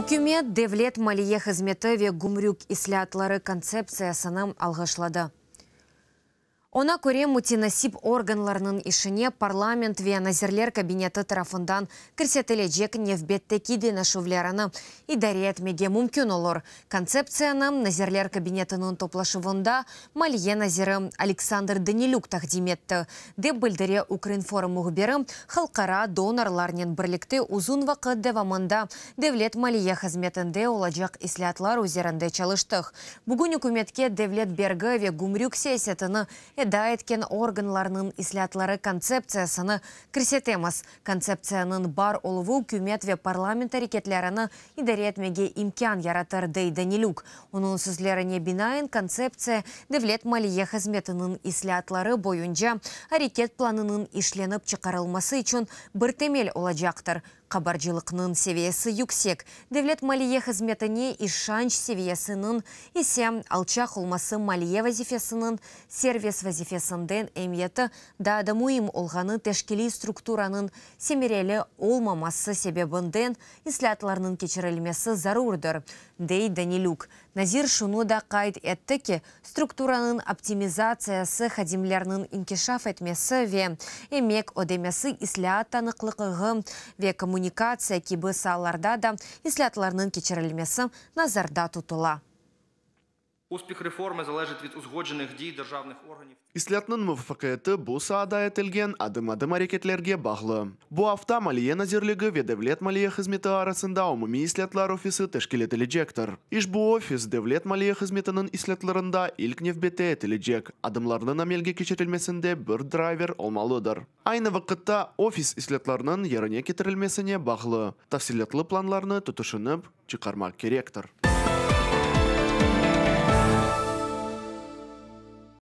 Ükümet devlet maliye hızmeti ve gümrük islâatları kontseptsiyasını alğışladı. Oña köre, mütenasip organlarnıñ işine parlament ve Nazirler Kabineti tarafından kirsetilecek nevbetteki deñişüvlerini idare etmege mümkün olur, Kontseptsiyanı Nazirler Kabinetiniñ toplaşuvında maliye naziri Aleksandr Danilük taqdim etti, dep bildire Ukrinform mühbiri, halqara donorlarnen birlikte uzun vaqıt devamında devlet maliye hızmetinde olacaq islâatlar üzerinde çalıştıq. Bugün ükümetke devlet bergi ve gümrük siyasetini eda etken organlarnıñ islâatları kontseptsiyasını kirsetemiz, Kontseptsiyanıñ bar oluvı ükümet ve parlament areketlerini idare etmege imkân yaratır, dey Danilük. Onıñ sözlerine binaen, kontseptsiya devlet maliye hızmetiniñ islâatları boyunca areket planınıñ işlenip çıqarılması içün bir temel olacaqtır. Qabarcılıqnıñ seviyesi yüksek, devlet maliye hızmetine işanç seviyesiniñ ise alçaq olması maliye vazifesiniñ servis vazifesinden emiyeti Daa da müim olğanı, teşkiliy strukturanıñ semereli olmaması sebebinden islâatlarnıñ keçirilmesi zarurdır, dey Danilük. Nazir şunı da qayd etti ki, strukturanıñ optimizatsiyası, hadimlerniñ inkişaf etmesi ve emek ödemesi, islâat tanıqlıqığı ve kommunikatsiya kibi saalarda da islâatlarnıñ keçirilmesi nazarda tutula. Uspeh reformı zalejit vid uzgodženih diy dırjavnıh organıv. İslâtnıñ muvafaqiyeti bu saada etilgen adım-adım areketlerge bağlı. Bu afta Maliye nazirligi ve Devlet maliye hızmeti arasında umumiy islâtlar ofisi teşkil etilecektir. İşbu ofis devlet maliye hızmetiniñ islâtlarında ilk nevbette etilecek adımlarnıñ amelge keçirilmesinde bir drayver olmalıdır. Aynı vaqıtta ofis islâtlarnıñ yerine ketirilmesine bağlı tafsilâtlı planlarnı tutışınıp çıqarmaq kerektir.